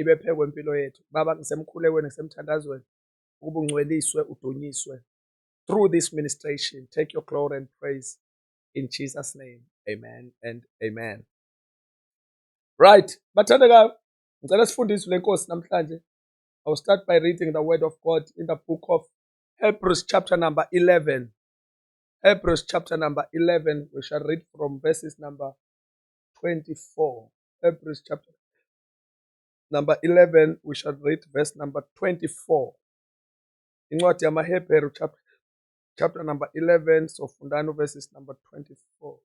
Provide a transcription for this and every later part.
ibephekwe impilo yethu baba ngisemkhulekweni ngisemthandazweni ukuba ungcweliswe udunyiswe through this ministration take your glory and praise in jesus name amen and amen right bathandekayo ngicela sifundiswe lenkosi namhlanje i will start by reading the word of god in the book of hebrews chapter number 11 hebrews chapter number 11 we shall read from verses number 24 hebrews chapter number 11, we shall read verse number 24. Incwadi yamaHebheru chapter, chapter number 11, so fundano verses number 24.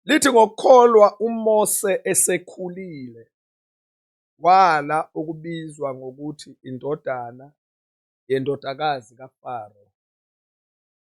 Lithi ngokholwa uMose esekhulile wala ukubizwa ngokuthi indodana yendodakazi kaFaro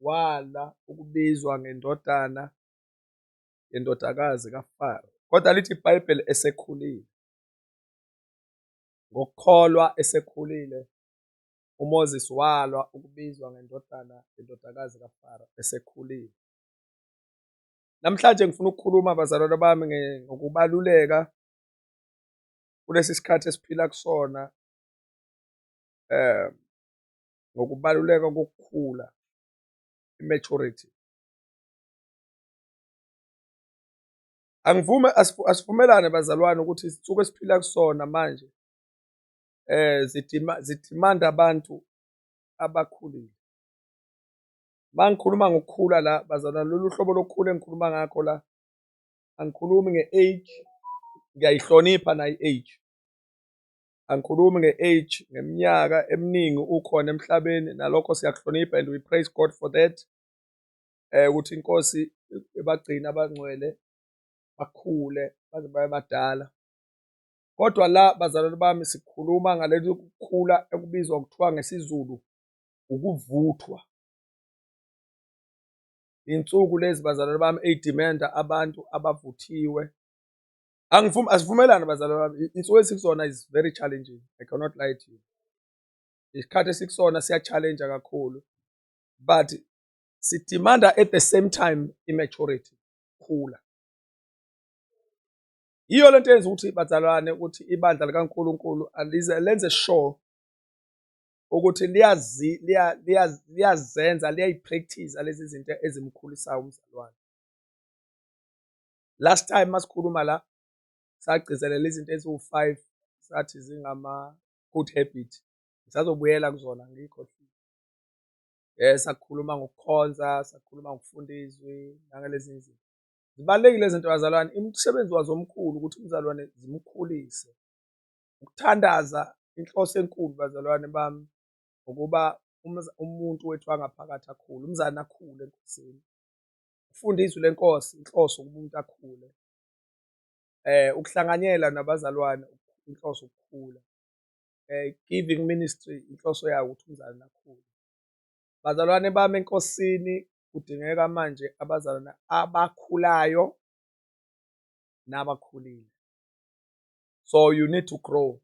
wala ukubizwa ngendodana yendodakazi kaFaro. Kodwa lithi iBhayibheli esekhulile. Ngokukholwa esekhulile uMoses walwa ukubizwa ngendodana yendodakazi kaFaro esekhulile. Namhlanje ngifuna ukukhuluma bazalwane bami ngokubaluleka kulesi sikhathi esiphila kusona um ngokubaluleka kokukhula, i-maturity. Angivume asivumelane bazalwane ukuthi isithuko esiphila kusona manje eh zidima zidimanda abantu abakhulile. Mangikhuluma ngokukhula la bazalwane lolu hlobo lokukhula engikhuluma ngakho la angikhulumi nge-age ngiyayihlonipha nayo i-age angikhulumi nge age ngeminyaka eminingi ukhona emhlabeni nalokho siyakuhlonipha and we praise God for that eh ukuthi inkosi ebagcina abangcwele bakhule baze babe badala kodwa la bazalwane bami sikhuluma ngalento yokukhula ekubizwa kuthiwa ngesiZulu ukuvuthwa insuku lezi bazalwane bami eyidimenda abantu abavuthiwe angivumi asivumelani bazalwa bami insuku esikusona is very challenging i cannot lie to you isikhathi esikusona siya-challenge kakhulu but sidimanda at the same time i-maturity khula yiyo le nto yenza ukuthi bazalwane ukuthi ibandla likankulunkulu alize lenze sure ukuthi liyazi liyazenza liyayipractice lezi zinto ezimkhulisayo umzalwane last time masikhuluma la sagcizelela izinto eziwu-five sathi zingama-good habit ngisazobuyela kuzona ngiyikhohlile um sakhuluma ngokukhonza sakhuluma ngokufunda izwi nangalezi zinto zibalulekile izinto bazalwane umsebenzi wazo omkhulu ukuthi umzalwane zimkhulise ukuthandaza inhloso enkulu bazalwane bami ngokuba umuntu wethu angaphakathi akhule umzane akhule enkosini ukufunda izwi lenkosi inhloso ukuba umuntu akhule eh ukuhlanganyela nabazalwane inhloso ukukhula eh giving ministry inhloso yayo ukuthi umzalwane akhule bazalwane bami enkosini kudingeka manje abazalwane abakhulayo nabakhulile so you need to grow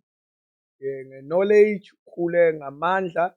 eh, nge-knowledge ukhule ngamandla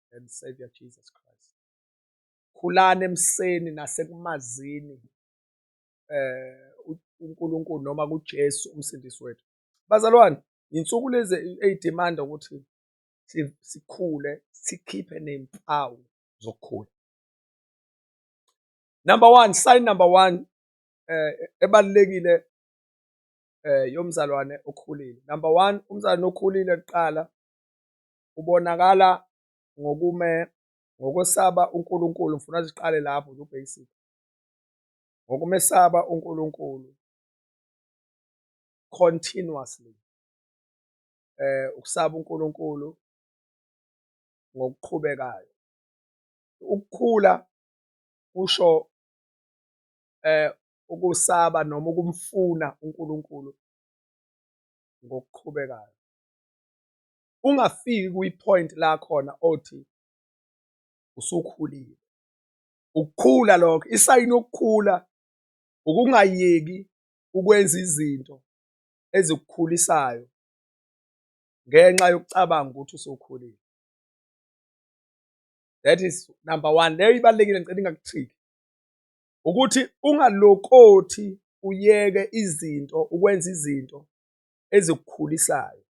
and Savior Jesus Christ. Khulani emseni nasekumazini eh uNkulunkulu noma kuJesu umsindisi wethu. Bazalwane, insuku lezi eyidimanda ukuthi sikhule sikhiphe nempawu zokukhula. Number 1, sign number 1 eh ebalekile eh yomzalwane okhulile. Number 1, umzalwane okhulile kuqala ubonakala ngokume ngokwesaba uNkulunkulu ngifuna ziqale lapho nje ubasic ngokumesaba uNkulunkulu continuously eh ukusaba uNkulunkulu ngokuqhubekayo ukukhula kusho eh ukusaba noma ukumfuna uNkulunkulu ngokuqhubekayo ungafiki kwi point la khona othi usukhulile ukukhula lokho isayini yokukhula ukungayeki ukwenza izinto ezikukhulisayo ngenxa yokucabanga ukuthi usukhulile that is number one leyo ibalulekile ngicela ingakuthiki ukuthi ungalokothi uyeke izinto ukwenza izinto ezikukhulisayo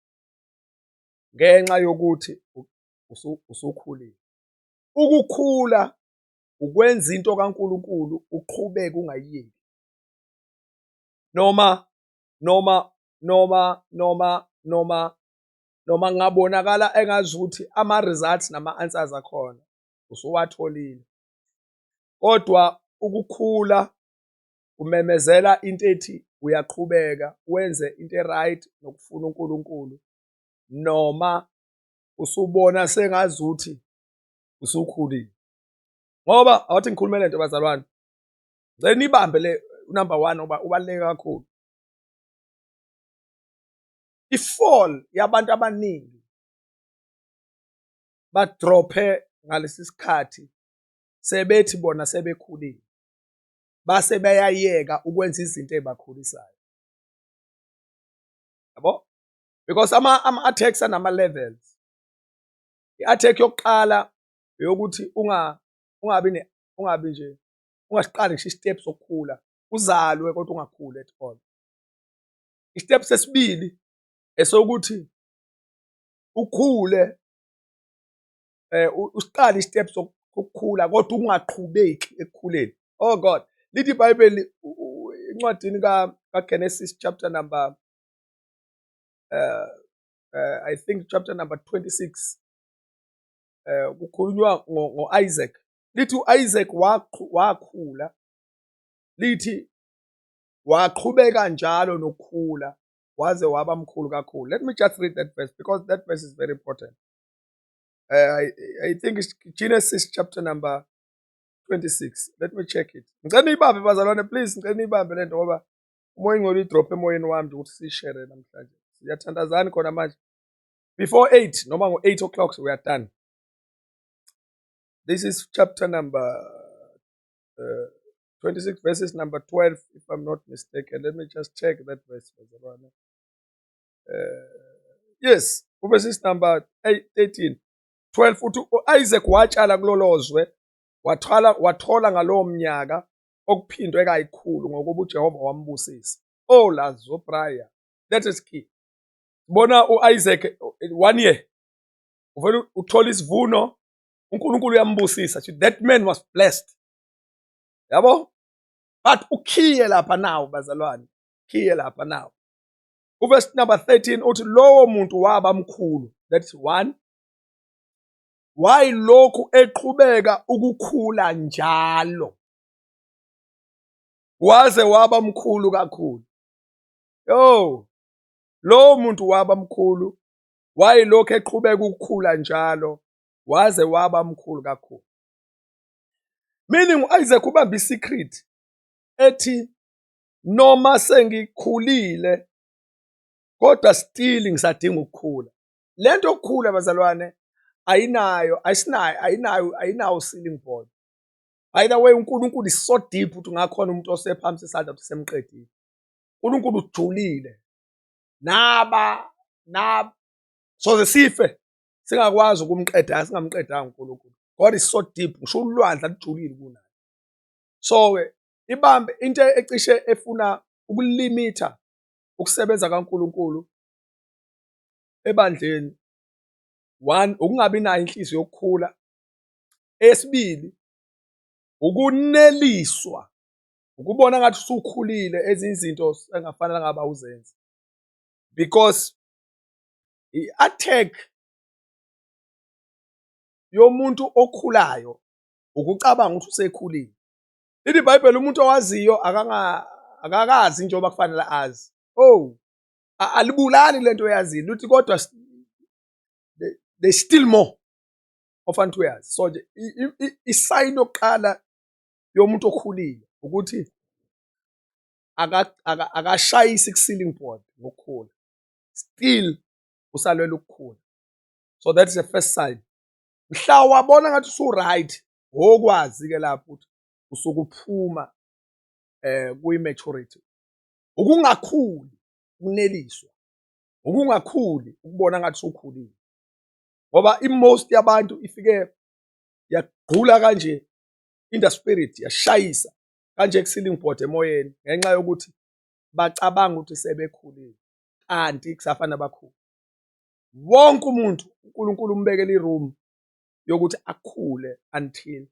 ngenxa yokuthi usukhulile. Ukukhula ukwenza into kaNkulunkulu uqhubeke ungayiyeki noma noma noma noma noma noma kungabonakala engazi ukuthi ama-results nama-answers akhona usuwatholile kodwa ukukhula Umemezela into ethi uyaqhubeka wenze into e-right nokufuna uNkulunkulu noma usubona sengazuthi usukhulile ngoba awathi ngikhulume lento bazalwane ngicela nibambe le number 1 ngoba ubaluleke kakhulu ifall yabantu abaningi badrophe ngalesi sikhathi sebethi bona sebekhulile base beyayeka ukwenza izinto ezibakhulisayo yabo because ama ama attacks anama levels iattack yokuqala eyokuthi unga ungabi ne ungabi nje ungasiqali ngisho istep sokukhula uzalwe kodwa ungakhuli at all istep sesibili esokuthi ukhule um usiqale i-step sokukhula kodwa ungaqhubeki ekukhuleni oh god lithi ibhayibheli encwadini kaGenesis chapter number uh, uh, I think chapter number 26 uh, kukhulunywa ngo-Isaac lithi u-Isaac wakhula lithi waqhubeka njalo nokukhula waze waba mkhulu kakhulu let me just read that verse because that verse is very important Uh, I, I think it's Genesis chapter number 26. Let me check it. Ngicela niyibambe bazalwane please, ngicela niyibambe lento ngoba umoya ingcwele idrop emoyeni wami ukuthi sishare namhlanje. Siyathandazani khona manje. Before 8 noma ngo 8 o'clock we are done. This is chapter number uh, 26 verses number 12 if I'm not mistaken. Let me just check that verse bazalwane. eh, yes uverses number 13 12 uthi u-isaac watshala kulolo zwe wathola wathola ngalowo mnyaka okuphindwe kayikhulu ngokuba uJehova wambusisa oh lazo prior that is key bona uIsaac one year uvela uthola isivuno uNkulunkulu uyambusisa that man was blessed yabo but ukhiye lapha nawo bazalwane khiye lapha nawo Uvesi number 13 uthi lowo muntu waba mkhulu. That's one. Why lokhu eqhubeka ukukhula njalo? Waze waba mkhulu kakhulu. Yo. Lowo muntu waba mkhulu. Why lokhu eqhubeka ukukhula njalo? Waze waba mkhulu kakhulu. Meaning uIsaac ubamba isecret ethi noma sengikhulile kodwa still ngisadinga ukukhula le nto yokukhula bazalwane ayinayo ayisinayo ayinayo ayinawo ceiling board by the way unkulunkulu is so deep ukuthi ungakhona umuntu osephamisa isandla ukuthi semqedile unkulunkulu ujulile naba naba soze sife singakwazi ukumqeda singamqedanga unkulunkulu god is so deep ngisho ulwandla lujulile kunayo so-ke ibambe into ecishe efuna ukulimitha ukusebenza kaNkulunkulu ebandleni one ukungabi nayo inhliziyo yokukhula esibili ukuneliswa ukubona ngathi usukhulile ezinye izinto engafanele ngaba uzenze because i-attack yomuntu okhulayo ukucabanga ukuthi usekhulile Lithi iBhayibheli umuntu owaziyo akanga akakazi njengoba kufanele azi. Oh. Alibulali lento oyazile. Lithi kodwa they still more ofanele uyazi. So nje isayini yokuqala yomuntu okhulile ukuthi akashayisi ku-ceiling board ngokukhula still usalwela ukukhula so that is the first sign mhla wabona ngathi usu-right ngokwazi-ke lapho ukuthi usuke uphuma eh kuyi-maturity ukungakhuli ukuneliswa ukungakhuli ukubona ngathi usukhulile ngoba i-most yabantu ifike yagqula kanje in the spirit yashayisa kanje ku-ceiling board emoyeni ngenxa yokuthi bacabanga ukuthi sebekhulile kanti kusafana bakhulu wonke umuntu uNkulunkulu umbekela iroom yokuthi akhule until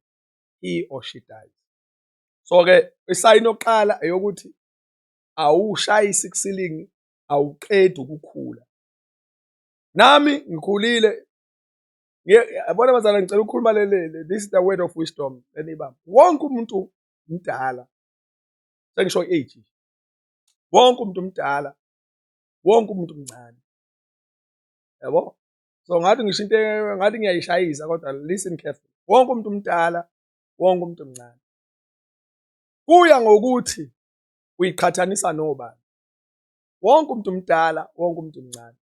he or she dies. So-ke isayini yokuqala eyokuthi awushayisi kusilingi awuqedi ukukhula. Nami ngikhulile yabona bazala ngicela ukukhuluma lelele this is the word of wisdom enibamba wonke umuntu mdala sengisho i-age wonke umuntu mdala wonke umuntu mncane yabo so ngathi ngisho into ngathi ngiyayishayisa kodwa listen careful wonke umuntu umdala wonke umuntu omncane kuya ngokuthi uyiqhathanisa nobani wonke umuntu umdala wonke umuntu omncane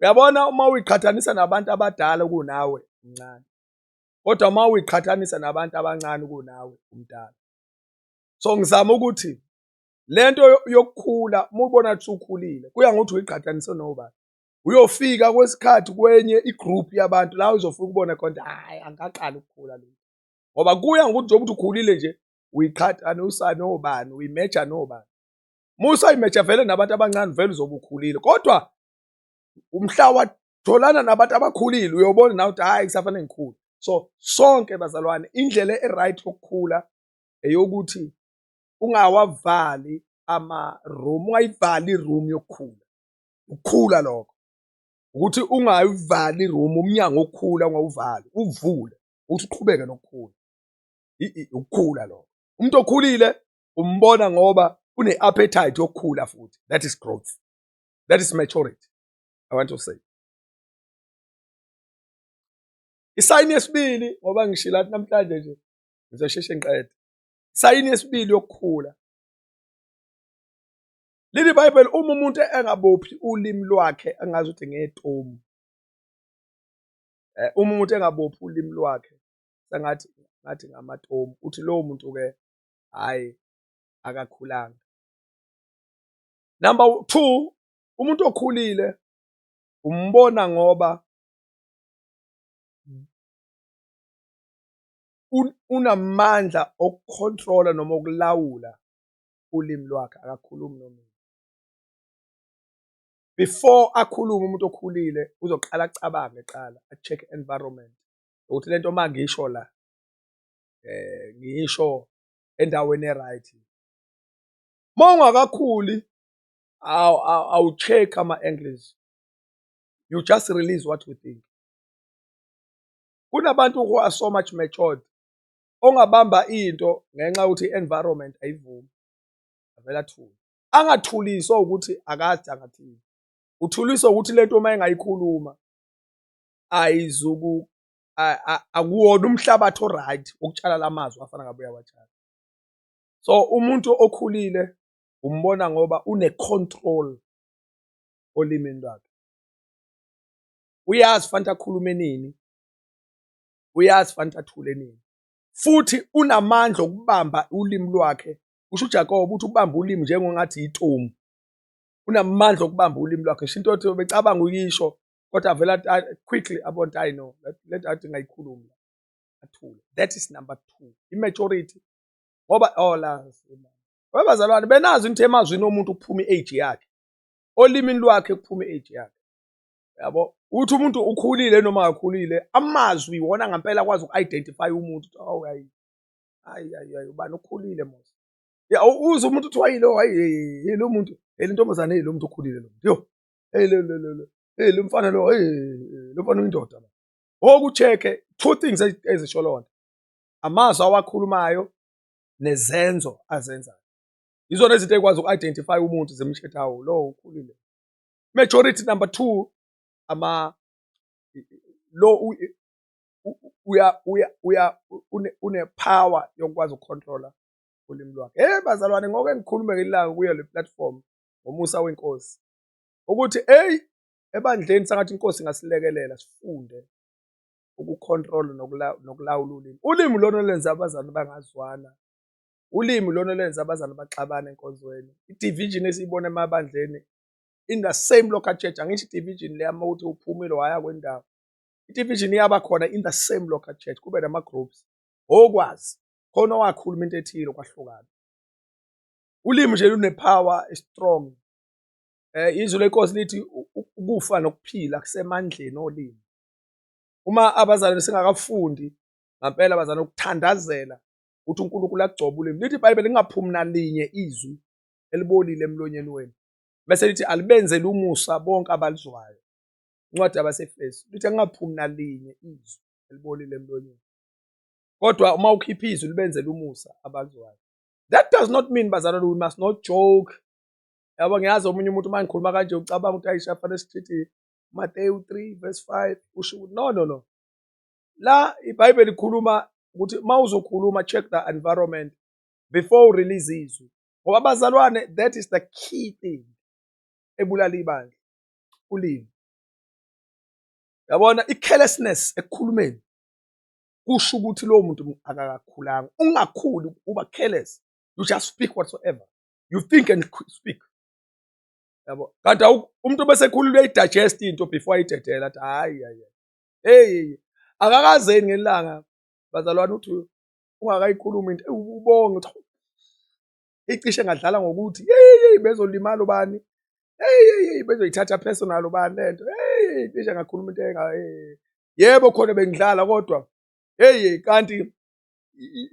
uyabona uma uyiqhathanisa nabantu abadala kunawe umncane kodwa uma uyiqhathanisa nabantu abancane kunawe umdala so ngizama ukuthi lento yokukhula mubona ukuthi ukhulile kuya ngokuthi uyiqhathanise nobani uyofika kwesikhathi kwenye igroup yabantu la uzofika ubone khona hayi angaqala ukukhula lo ngoba kuya ngokuthi njengoba ukuthi ukhulile nje uyiqhatha nosani obani uyimeja nobani musa imeja vele nabantu abancane vele uzobe ukhulile kodwa umhla watholana nabantu abakhulile uyobona nawe ukuthi hayi kusafanele ngikhule so sonke bazalwane indlela e-right yokukhula eyokuthi ungawavali ama-room ungayivali i-room yokukhula ukukhula lokho ukuthi ungayivali iroom umnyango okhula ungawuvali uvule ukuthi uqhubeke nokukhula ukukhula lokho umuntu okhulile umbona ngoba une-appetite yokukhula futhi that is growth that is maturity i want to say isayini yesibili ngoba ngishila athi namhlanje nje ngizosheshe ngiqede isayini yesibili yokukhula Lithi iBhayibheli uma umuntu engabophi ulimi lwakhe angazi ukuthi ngetomu. Eh, uma umuntu engabophi ulimi lwakhe sengathi ngathi ngamatomu uthi lowo muntu ke hayi akakhulanga. Number 2 umuntu okhulile umbona ngoba unamandla okucontrola noma ukulawula ulimi lwakhe akakhulumi nomina before akhulume umuntu okhulile uzoqala acabange qala acheck environment ukuthi lento uma ngisho la eh ngisho endaweni eright uma ungakakhuli awucheck ama angles you just release what you think kunabantu who are so much matured ongabamba into ngenxa yokuthi i-environment ayivumi avele athule angathuliswa ukuthi akazi angathini uthuliswa ukuthi lento uma engayikhuluma ayizuku akuwona umhlabathi oright wokutshala lamazwi afana ngabe uyawatshala so umuntu okhulile umbona ngoba une-control olimini lwakhe uyazi fanele akhulume nini uyazi fanele athule nini futhi unamandla okubamba ulimi lwakhe usho uJakobe ukuthi ubamba ulimi njengongathi yitomu unamandla okubamba ulimi lwakhe sho into yothi becabanga uyisho kodwa avela quickly abonta i know le nto athi ngayikhulumi athule that is number two i-majority ngoba ola oh, webazalwane benazi into emazwini omuntu kuphuma i-age yakhe olimini lwakhe kuphuma i-age yakhe yabo ukuthi umuntu ukhulile noma akakhulile amazwi iwona ngampela akwazi uku-identify umuntu ukuthi awu hayi hayi hayi hayi ubani ukhulile mos ya uze umuntu kuthiwa yilo hayi hey lo muntu hey lentombazane hey lo muntu ukhulile lo muntu yo hey lo lo lo hey lo mfana lo hey lo mfana uyindoda manje okucheke two things ezisho lonto amazwi awakhulumayo nezenzo azenzayo yizona izinto ekwazi uku-identify umuntu zimshethawo lo ukhulile majority number two ama lo uya uya uya une power yokwazi ukucontrola ulimi lwakhe hey bazalwane ngoke ngikhulume ngelanga kuyo le platform ngomusa wenkosi ukuthi hey ebandleni sangathi inkosi ngasilekelela sifunde ukucontrol nokulawula ulimi ulimi lona lenza abazali bangazwana ulimi lona lenza abazali baxabane enkonzweni i-division esiyibona emabandleni in the same located angithi division le ama uthi uphumile waya kwendawo idivision iyaba khona in the same located kube nama groups okwazi khona wakhuluma into ethile kwahlukana ulimi nje lune power strong eh izwi lenkosi lithi ukufa nokuphila kusemandleni olimi uma abazalwane singakafundi ngampela abazalwane ukuthandazela ukuthi uNkulunkulu agcobe ulimi lithi iBhayibheli lingaphumi nalinye izwi elibolile emlonyeni wenu bese lithi alibenzele umusa bonke abalizwayo incwadi yabasefesu lithi angingaphumi nalinye izwi elibolile emlonyeni kodwa uma ukhipha izwi libenzele umusa abalizwayo that does not mean bazalwane we must not joke yabo ngiyazi omunye umuntu uma ngikhuluma kanje ucabanga ukuthi ayisha fanele sichithi Mateyu 3 verse 5 usho ukuthi no no no la ibhayibheli likhuluma ukuthi uma uzokhuluma check the environment before u release izwi ngoba bazalwane that is the key thing ebulala ibandla ulimi yabona i-carelessness ekukhulumeni kusho ukuthi lowo muntu akakakhulanga ungakhuli uba careless you just speak whatsoever you think and speak yabo kanti umuntu bese ekhulula uyayidigest into before ayidedele athi hayi hayi hey akakazeni ngelanga bazalwane uthi ungakayikhulumi into ubonge ukuthi icishe ngadlala ngokuthi yeyi bezolimala ubani yeyi bezoyithatha personal ubani le nto yeyi cishe ngakhuluma into enga yebo khona bengidlala kodwa heyi kanti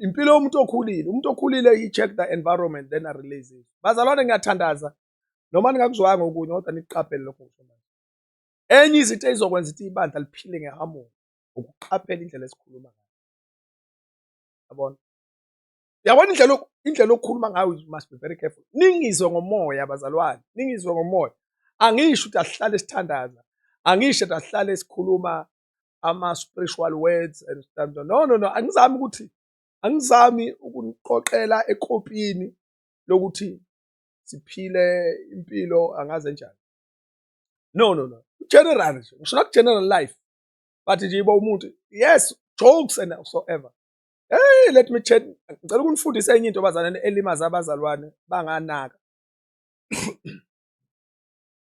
impilo yomuntu okhulile umuntu okhulile i-check the environment then a release it bazalwane ngiyathandaza noma ningakuzwanga okunye kodwa nikuqaphele lokho ngisho manje enye izinto eyizokwenza ukuthi ibandla liphile ngehamoni ukuqaphela indlela esikhuluma ngayo yabona yabona indlela indlela okukhuluma ngayo you must be very careful ningizwe ngomoya abazalwane ningizwe ngomoya angisho ukuthi asihlale sithandaza angisho ukuthi asihlale sikhuluma ama-spiritual words and stuff no no no angizami ukuthi angizami ukuniqoqela ekopini lokuthi siphile impilo angaze njani no no no general nje ngisho naku-general life bathi nje iba umuntu yes jokes and so ever hey let me chat ngicela ukunifundisa enye into bazalwane elimaza abazalwane banganaka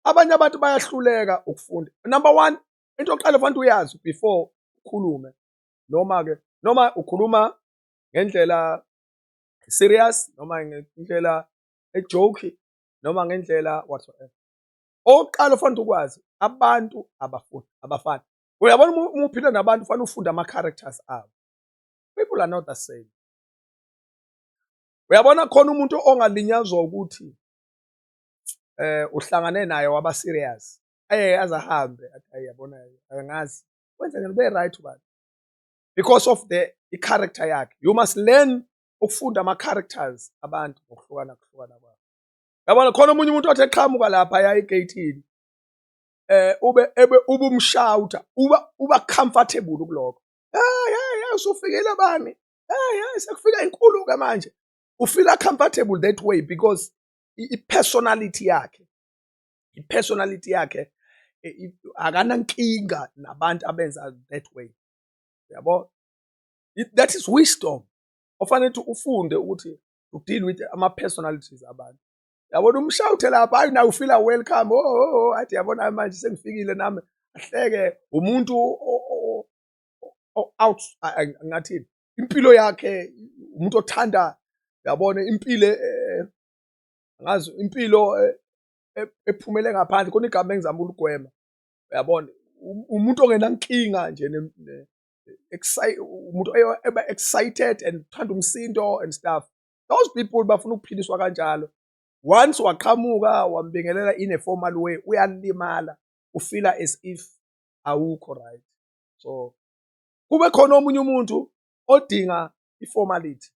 abanye abantu bayahluleka ukufunda number one into yokuqala kufanele uyazi before ukhulume noma ke noma ukhuluma ngendlela serious noma ngendlela ejoke noma ngendlela whatsoever okokuqala ofanele ukwazi abantu abafuni abafani uyabona uma uphila nabantu ufanele ufunde ama-characters abo people are not the same uyabona khona umuntu ongalinyazwa ukuthi eh uhlangane naye waba serious aye azahambe athi yabona angazi wenza ngene ube right ubani because of the i character yakhe you must learn ukufunda ama characters abantu ngokuhlukana kuhlukana kwabo yabona khona omunye umuntu othi eqhamuka lapha ya egeyithini eh ube ebe ubumshawuta uba uba comfortable kuloko hey hey hey usufikile bani hey hey sekufika inkulu ke manje ufila comfortable that way because i-personality yakhe i-personality yakhe e, akanankinga nabantu abenza that way yabo that is wisdom ofanele ukuthi ufunde ukuthi ukudeal with ama-personalities abantu yabona umshawuthe lapha hayi naye ufila welcome o oh, oh, oh, athi yabona manje sengifikile nami ahleke umuntu out ngathini impilo yakhe umuntu othanda yabona impilo e, e, ngazi impilo e, ephumele ngaphandle khona igama engizama uligwema uyabona umuntu ongenankinga nje umuntu eba excited and thanda umsindo and stuff those people bafuna ukuphiliswa kanjalo once waqhamuka wambingelela in a formal way uyalimala ufila as if awukho right so kube khona omunye umuntu odinga iformality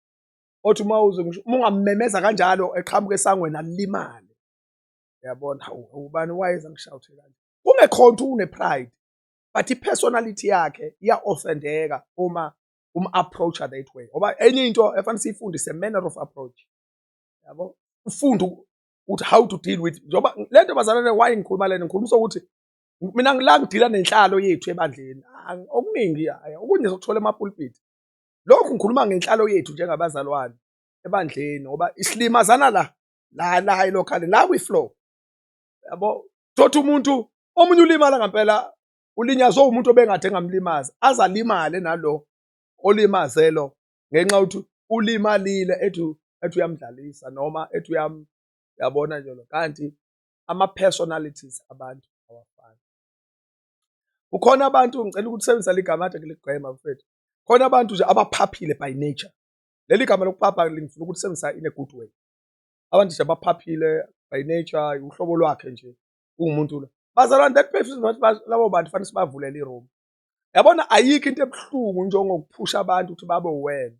othi uma uze ngisho uma ungammemeza kanjalo eqhamuka esangweni alimale uyabona hawu ubani wayeza ngishawuthe kanje kungekhonto une pride but i-personality yakhe iya-offendeka uma um-approacha that way ngoba enye into efanele siyifundise manner of approach yabo ufunde ukuthi how to deal with njengoba le nto bazalwane why ngikhuluma lena ngikhuluma sokuthi mina ngila ngidila nenhlalo yethu ebandleni okuningi okunye sokuthola emapulpiti lokhu ngikhuluma ngenhlalo yethu njengabazalwane ebandleni ngoba isilimazana la la la hayi lokhale la kwi-flow yabo thothi umuntu omunye ulimala ngempela ulinyazwe umuntu obengade engamlimazi aze alimale nalo olimaze lo ngenxa yokuthi ulimalile ethi ethi uyamdlalisa noma ethi uyam yabona nje lo kanti ama-personalities abantu awafani kukhona abantu ngicela ukuthi usebenzisa ligama ade ngiligwema mfethu khona abantu nje abaphaphile by nature leli gama lokuphapha lingifuna ukuthi sebenzisa in a good way abantu nje abaphaphile by nature uhlobo lwakhe nje ungumuntu lo bazalwane that person labo bantu fanele sibavulele iroom yabona ayikho into ebuhlungu njengokuphusha abantu ukuthi babe wena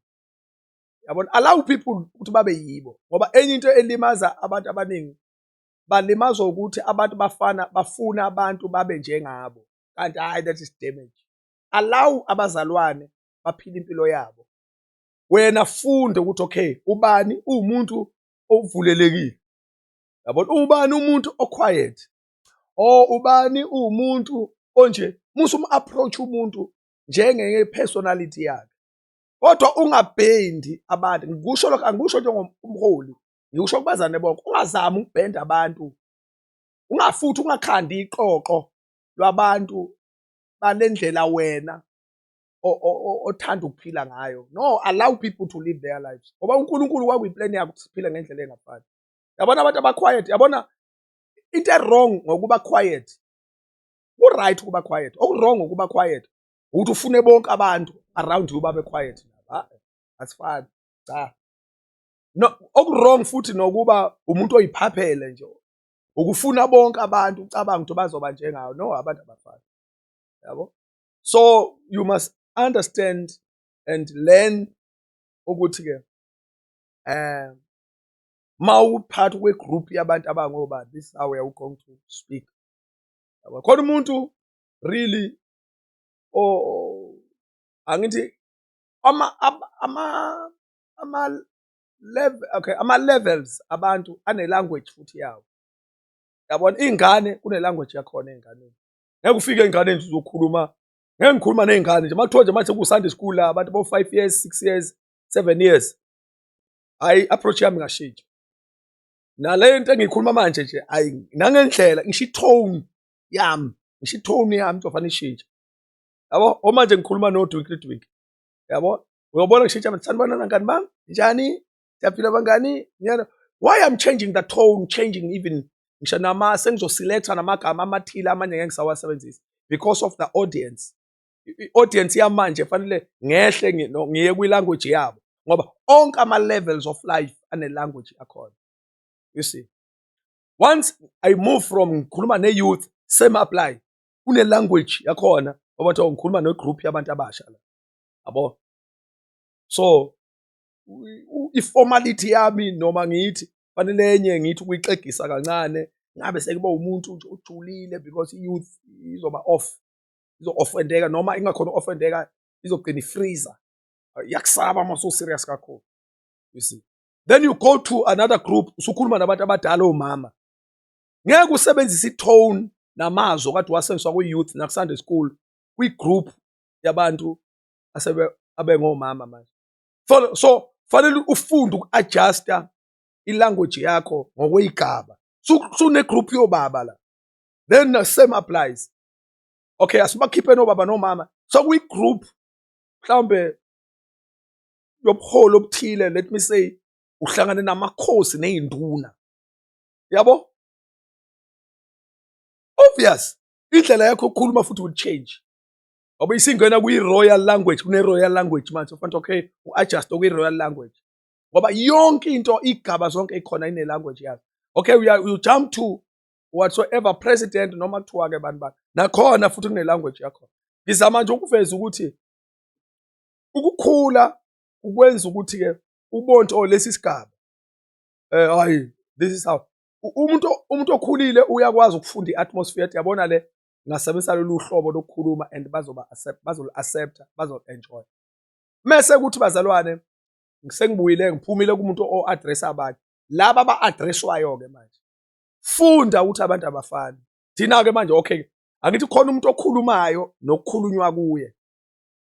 yabona allow people ukuthi babe yibo ngoba enye into elimaza abantu abaningi balimazwa ukuthi abantu bafana bafuna abantu babe njengabo kanti hayi that is damage allow abazalwane baphile impilo yabo wena funde ukuthi okay ubani uwumuntu ovulelekile yabona ubani umuntu oquiet or ubani uwumuntu onje musa um-approach umuntu njenge-personality yakhe kodwa ungabhendi abantu ngikusho lokho angikusho njengomholi ngikusho kubazane bonke ungazami ukubhenda abantu ungafuthi ungakhandi iqoqo lwabantu balendlela wena othanda ukuphila ngayo no allow people to live their lives ngoba uNkulunkulu kwakuyiplan yakhe ukuthi siphile ngendlela engafani yabona abantu abaquiet yabona into ewrong ngokuba quiet ku-right ukuba quiet oku-wrong ukuba quiet ukuthi ufune bonke abantu around you babe quiet asifani cha no oku-wrong futhi nokuba umuntu oyiphaphele nje ukufuna bonke abantu ucabanga ukuthi bazoba njengawo no abantu abafani yabo so you must understand and learn ukuthi ke eh mawuphathi kwe group yabantu abangoba this how we are going to speak khona umuntu really oh angithi ama ama ama level okay ama levels abantu ane language futhi yawo yabona ingane kune language yakhona enganeni ngeke ufike ey'nganeni nje uzokhuluma ngeke ngikhuluma ney'ngane nje makuthiwa nje manje kusande school la abantu bo-five years six years seven years hhayi i-approach yami ngashitsha nale nto engiyikhuluma manje nje hhayi nangendlela ngisho i-tone yami ngisho i-tone yami kuzofanele ishintshe yabo omanje ngikhuluma nodwinkle dwinkle yabo uyobona ngishintsha sanibonana ngani bami njani siyaphila bangani ngiyana why i'm changing the tone changing even ngisho nama sengizoselecta namagama amathile amanye ngeke ngisawasebenzisa because of the audience i-audience yamanje fanele ngehle ngiye kwi-language yabo ngoba onke ama-levels of life ane-language yakhona you see once i move from ngikhuluma ne-youth same apply kune-language yakhona obathiwa ngikhuluma ne-group yabantu abasha la yabo so iformality yami noma ngithi fanele enye ngithi ukuyixegisa kancane ngabe sekuba umuntu nje ojulile because i-youth izoba off izo-offendeka noma ingakhona u-offendeka izogcina ifreeza iyakusaba uma so-serious kakhulu you see then you go to another group usukhuluma nabantu abadala omama ngeke usebenzise i-tone namazwi okade wasebenziswa kwi-youth naku-sunday school kwi-group yabantu asebe abengomama manje so so fanele ufunde uku-adjusta ilanguage yakho ngokweyigaba sunegroup yobaba la then the same applies okay asibakhiphe nobaba nomama sokuyigroup mhlawumbe yobuholi obuthile let me say uhlangane namakhosi neyinduna yabo obvious indlela yakho ukukhuluma futhi will change ngoba isingena kwi-royal language kune-royal language manje ufanele okay u-adjust okwi-royal language ngoba yonke into igaba zonke ikhona ine-language yazo okay we are, you jump to whatsoever president noma kuthiwa-ke abantu bani nakhona futhi kune-language yakhona ngizama nje ukuveza ukuthi ukukhula ukwenza ukuthi-ke ubonto oh, lesi sigaba eh hayi this is how umuntu umuntu okhulile uyakwazi ukufunda i-atmosphere yabona le ngingasebenzisa lolu hlobo lokukhuluma and bazoba accept bazolu accepta bazolu enjoy mese kuthi bazalwane sengibuyile ngiphumile kumuntu o address abanye laba ba addresswayo ke manje funda ukuthi abantu abafani thina ke manje okay angithi khona umuntu okhulumayo nokukhulunywa kuye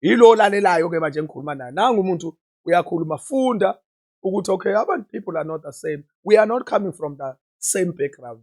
yilo olalelayo ke manje engikhuluma naye nangu umuntu uyakhuluma funda ukuthi okay abantu people are not the same we are not coming from the same background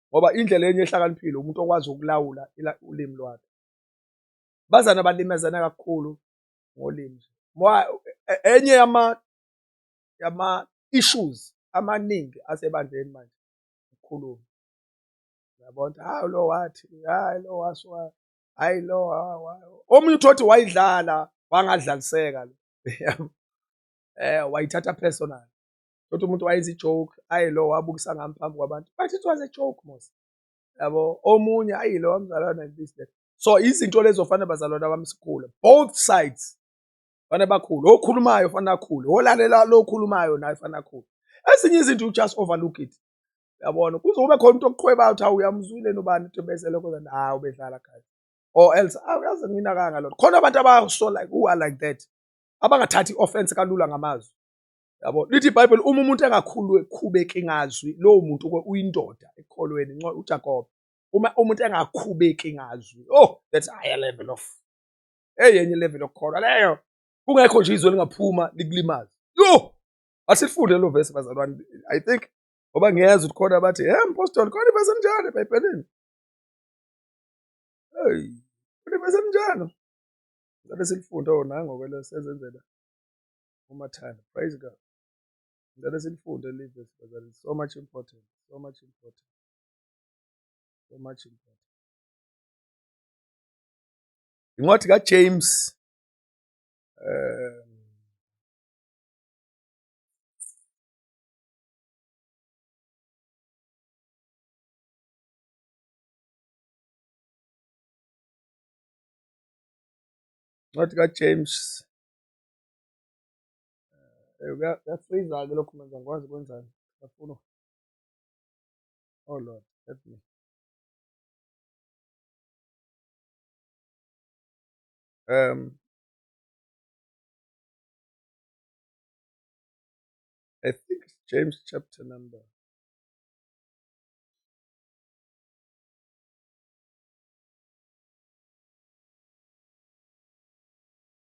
ngoba indlela enye ehlakaniphile umuntu okwazi ukulawula ulimi lwakhe bazana balimezana kakhulu ngolimi e, enye yama yama issues amaningi asebandleni manje ukukhuluma yabona hayi lo wathi hayi lo waswa hayi lo omunye uthothi wayidlala wangadlaliseka lo eh wayithatha personal Thothi umuntu wayenza i-joke, ayi lo wabukisa ngami phambi kwabantu. But it was a joke mos. Yabo, omunye ayi lo wamzalwana this that. So izinto lezo fanele bazalwana bami sikhule. Both sides. Fanele bakhule. Okhulumayo fanele akhule. Olalela lo okhulumayo naye fanele akhule. Ezinye izinto you just overlook it. Yabona, kuze kube khona umuntu okuqhwebayo ukuthi awuyamuzwile nobani ukuthi bese lokho then ah ubedlala guys. Or else awuyazi mina kanga lokho. Khona abantu abaso like who are like that. Abangathathi offense kalula ngamazwi. yabo lithi ibhayibheli uma umuntu engakhubeki ngazwi lowo muntu uyindoda ekukholweni ujakobe uma umuntu engakhubeki ngazwi oh that's a higher level of eyenye level yokukholwa leyo kungekho nje izwe lingaphuma likulimaze yo asifunde lo vesi bazalwane i think ngoba ngiyeza ukuthi khona bathi he mpostoli khona ivesi enjalo ebhayibhelini hey khona ivesi enjalo sabe silifunde ona ngokwelo sezenzela umathanda praise god ngicela silifunde leli vesi bazali so much important so much important so much important incwadi kajames um Not got James. Kuyasiza-ke lokhu manje angikwazi ukwenzani ngiyafuna oh lord help me um I think it's James chapter number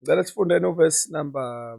Ngicela sifunde novesi number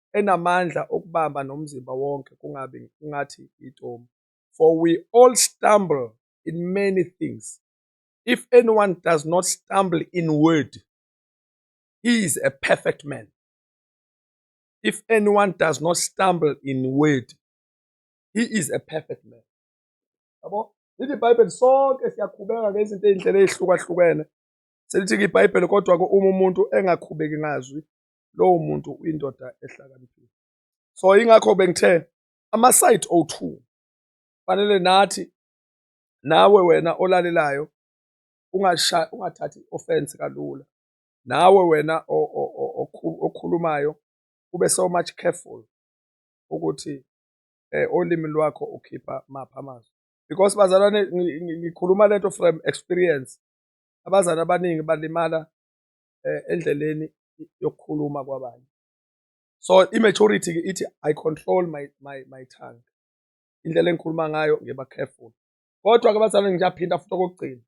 enamandla okubamba nomzimba wonke kungabi kungathi yitomu. For we all stumble in many things. If anyone does not stumble in word, he is a perfect man. If anyone does not stumble in word, he is a perfect man. Yabo? Lithi iBhayibheli sonke siyakhubeka ngezinto ezindlela ezihlukahlukene. Selithi iBhayibheli kodwa-ke uma umuntu engakhubeki ngazwi, lowo muntu uyindoda ehlakaniphile so ingakho bengithe ama-site o2 fanele nathi nawe wena olalelayo ungathathi i-offense kalula nawe wena okhulumayo ube so much careful ukuthi eh olimi lwakho ukhipha mapha amazwi because bazalwane ngikhuluma lento from experience abazali abaningi balimala eh, endleleni yokukhuluma kwabanye so i-maturity ke ithi i control my, my, my tongue indlela engikhuluma ngayo ngiba careful kodwa ke abazalwane ngiyaphinda futhi okokugcina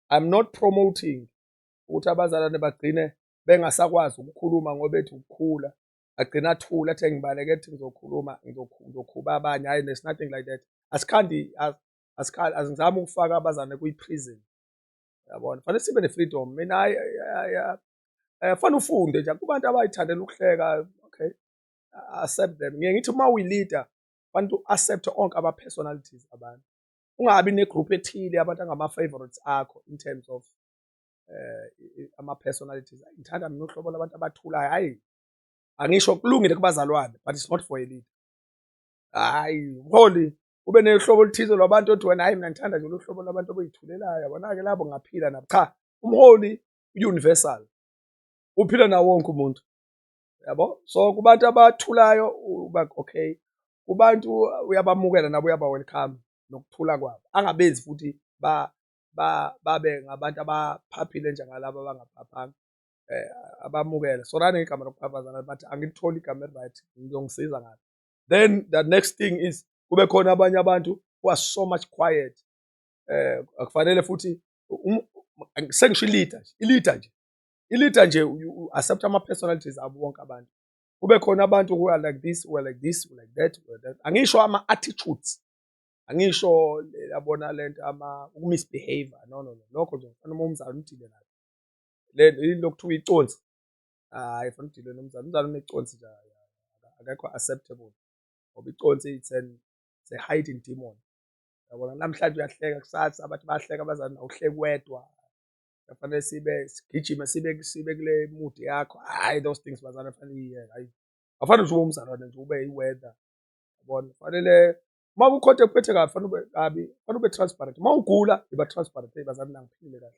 i'm not promoting ukuthi abazalwane bagcine bengasakwazi ukukhuluma ngoba ethi ukukhula agcina athula athe ngibaleke ethi ngizokhuluma ngizokhuba abanye hhayi there's nothing like that asikhandi asizame ukufaka abazane kwi-prison yabona fanele sibe ne-freedom mina eh, fanele ufunde nje kubantu abayithandela ukuhleka okay accept them ngiye ngithi uma uyi-leader fanele u-accepte onke ama-personalities abantu ungabi negroup ethile abantu angama-favorites akho in terms of eh ama-personalities ngithanda mina uhlobo labantu abathulayo hhayi angisho kulungile kubazalwane but it's not for a leader hhayi mholi ube nohlobo oluthize lwabantu othi wena hayi mina ngithanda nje lohlobo lwabantu abayithulelayo yabona-ke labo ngaphila nabo cha umholi universal uphila nawo wonke umuntu yabo so kubantu abathulayo uba okay kubantu uyabamukela nabo uyaba welcome nokuthula kwabo angabenzi futhi ba ba babe ngabantu abaphaphile njengalabo abangaphaphanga eh abamukele sorani igama lokuphaphaza bathi angilitholi igama eliryt ngizongisiza ngalo then the next thing is kube khona abanye abantu who are so much quiet eh akufanele futhi um, sengisho i-leader nje i-leader nje i-leader nje accept ama-personalities abo bonke abantu kube khona abantu who are like this who are like this who are like that who are that angisho ama-attitudes angisho yabona le nto ama uku-misbehavior no no no lokho nje ngifana uma umzali umdile nayo le yini lokuthiwa iconsi hayi funa udilwe nomzali umzali uneconsi nje akekho acceptable ngoba iconsi it's an it's a hiding demon yabona namhlanje uyahleka kusasa bathi bayahleka abazali awuhleki wedwa kufanele sibe sigijime sibe sibe kule mood yakho hayi those things bazali afanele iye hayi afanele nje ube umzalwane nje ube i-weather yabona kufanele uma kukhonto ekuphethe kabi fanele ube kabi fanele ube transparent uma ugula iba transparent hey bazali nangiphilile kahle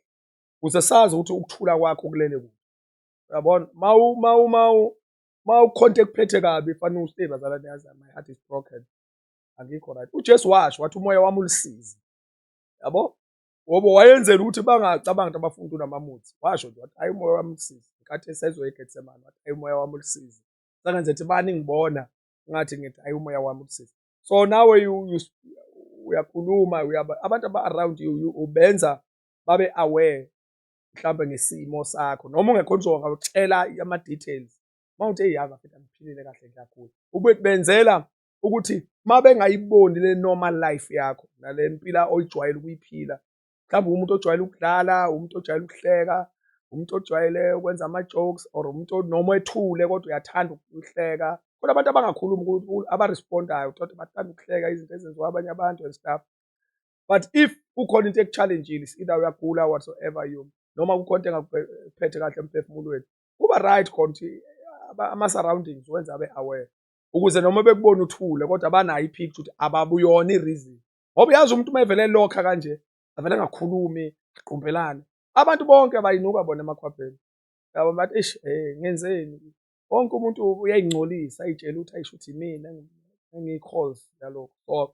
ukuze sazi ukuthi ukuthula kwakho kulele kuphi uyabona mawu mawu mawu mawukhonta ekuphethe kabi fanele ustay bazala niyazi my heart is broken angikho right uJesu washo wathi umoya wami ulisizi yabo ngoba wayenzela ukuthi bangacabanga ukuthi abafundi unamamuthi washo nje wathi hayi umoya wami ulisizi nkathi esezoya eGetsemane wathi hayi umoya wami ulisizi sangenze ukuthi bani ngibona ngathi ngithi hayi umoya wami ulisizi so nawe uyakhuluma abantu aba-around you ubenza babe aware mhlawumbe ngesimo sakho noma ungekho nje ungawutshela ama-details uma uthi eyi yazi afethu angiphilile kahle ngiyagula ukuthi benzela ukuthi uma bengayiboni le normal life yakho nale mpila oyijwayele ukuyiphila mhlawumbe umuntu ojwayele ukudlala umuntu ojwayele ukuhleka umuntu ojwayele ukwenza ama-jokes or umuntu noma ethule kodwa uyathanda ukuhleka kodwa abantu abangakhulumi abarespondayo uthothe bathanda ukuhleka izinto ezenziwa abanye abantu and stuff but if kukhona into ekuchallenge-ile either uyagula whatsoever you noma kukhona into engakuphethe kahle emphefumulweni kuba right khona ukuthi ama-surroundings wenza abe aware ukuze noma bekubona uthule kodwa banayo i-picture ukuthi ababuyona i-reason ngoba uyazi umuntu uma evele lokha kanje avele angakhulumi agqumbelane abantu bonke abayinuka bona emakhwapheni yabo bathi eish eh ngenzeni wonke umuntu uyayingcolisa ayitshela ukuthi ayisho ukuthi imina engiyi-cause yalokho so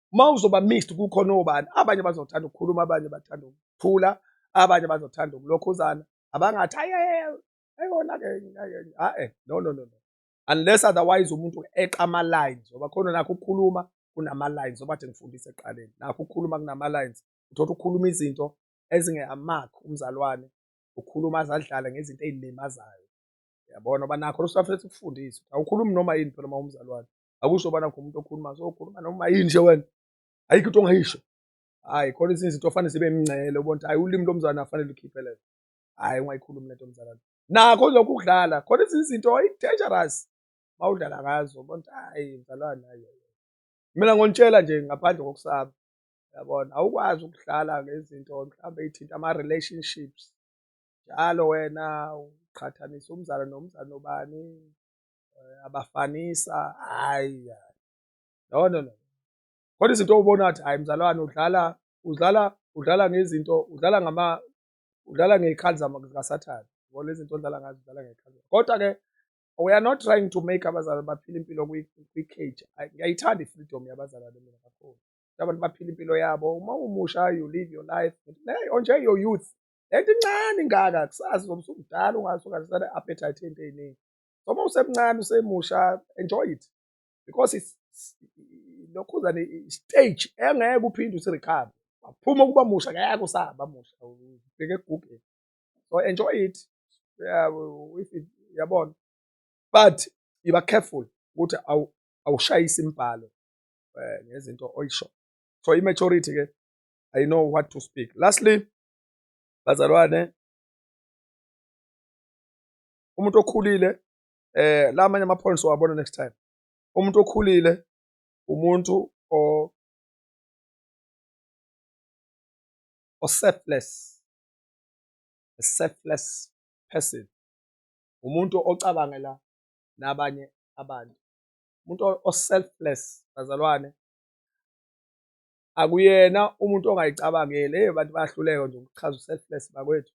uma uzoba mixed kukhona obani abanye bazothanda ukukhuluma abanye bathanda ukuthula abanye bazothanda ukulokhuzana abangathi ayona ke hae no no no unless otherwise umuntu eqa ama lines ngoba khona nakho ukukhuluma kunama lines ngoba athi ngifundise eqaleni nakho ukukhuluma kunama lines uthola ukukhuluma izinto ezingeyamakho umzalwane ukhuluma azadlala ngezinto ezilimazayo yabona oba nakho lusafethu ukufundisa awukhulumi noma yini phela uma umzalwane akusoba nakho umuntu okhuluma so ukhuluma noma yini nje wena ayikho into ongayisho hayi khona izinto izinto fanele zibe mncele ubona ukuthi hayi ulimi lomzalwane afanele ukhiphe lento hayi ungayikhulumi lento mzalwane nakho lokhu ukudlala khona izinto dangerous mawudlala ngazo ubona ukuthi hayi mzalwane hayi mina ngonitshela nje ngaphandle kokusaba yabona awukwazi ukudlala ngezinto mhlawumbe eyithinta ama-relationships njalo wena uqhathanisa umzala nomzala nobani eh, abafanisa hayi no no no kodwa izinto obona ukuthi hayi mzalwane udlala udlala udlala ngezinto udlala ngama udlala ngezikhali zikasathane ngoba lezi zinto odlala ngazo udlala ngezikhali kodwa ke we are not trying to make abazalwane baphile impilo kwi-cage ngiyayithanda i-freedom yabazalwane mina kakhulu abantu baphile impilo yabo uma umusha you live your life hey onje your youth lento incane ingaka kusasa uzobe usumdala ungathi ungasana appetite into eziningi so uma usemncane usemusha enjoy it because it's lokhuzane stage engeke uphinde usirecover waphuma ukuba musha ngeke usaba musha ubheke egugeni so enjoy it yabona but yiba careful ukuthi awushayisi imbhalo eh, ngezinto oyisho so i-maturity ke i know what to speak lastly bazalwane umuntu okhulile eh la amanye ama-points owabona next time umuntu okhulile umuntu o oselfless a selfless person umuntu ocabangela nabanye abantu umuntu oselfless bazalwane akuyena umuntu ongayicabangeli hey abantu bayahluleka nje ukuchaza uselfless bakwethu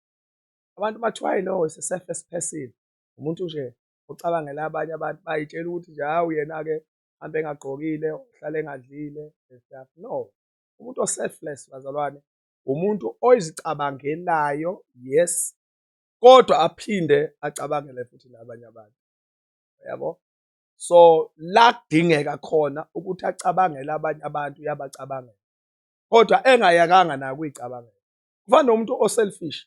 abantu bathi why no is a surface person umuntu nje ocabangela abanye abantu bayitshela ukuthi nje hawu yena-ke hambe engagqokile uhlale engadlile stuff no umuntu o-selfless bazalwane umuntu oyizicabangelayo yes kodwa aphinde acabangele futhi nabanye abantu yabo so la kudingeka khona ukuthi acabangele abanye abantu uyabacabangela kodwa engayakanga nayo kuyicabangela kufana nomuntu o-selfish.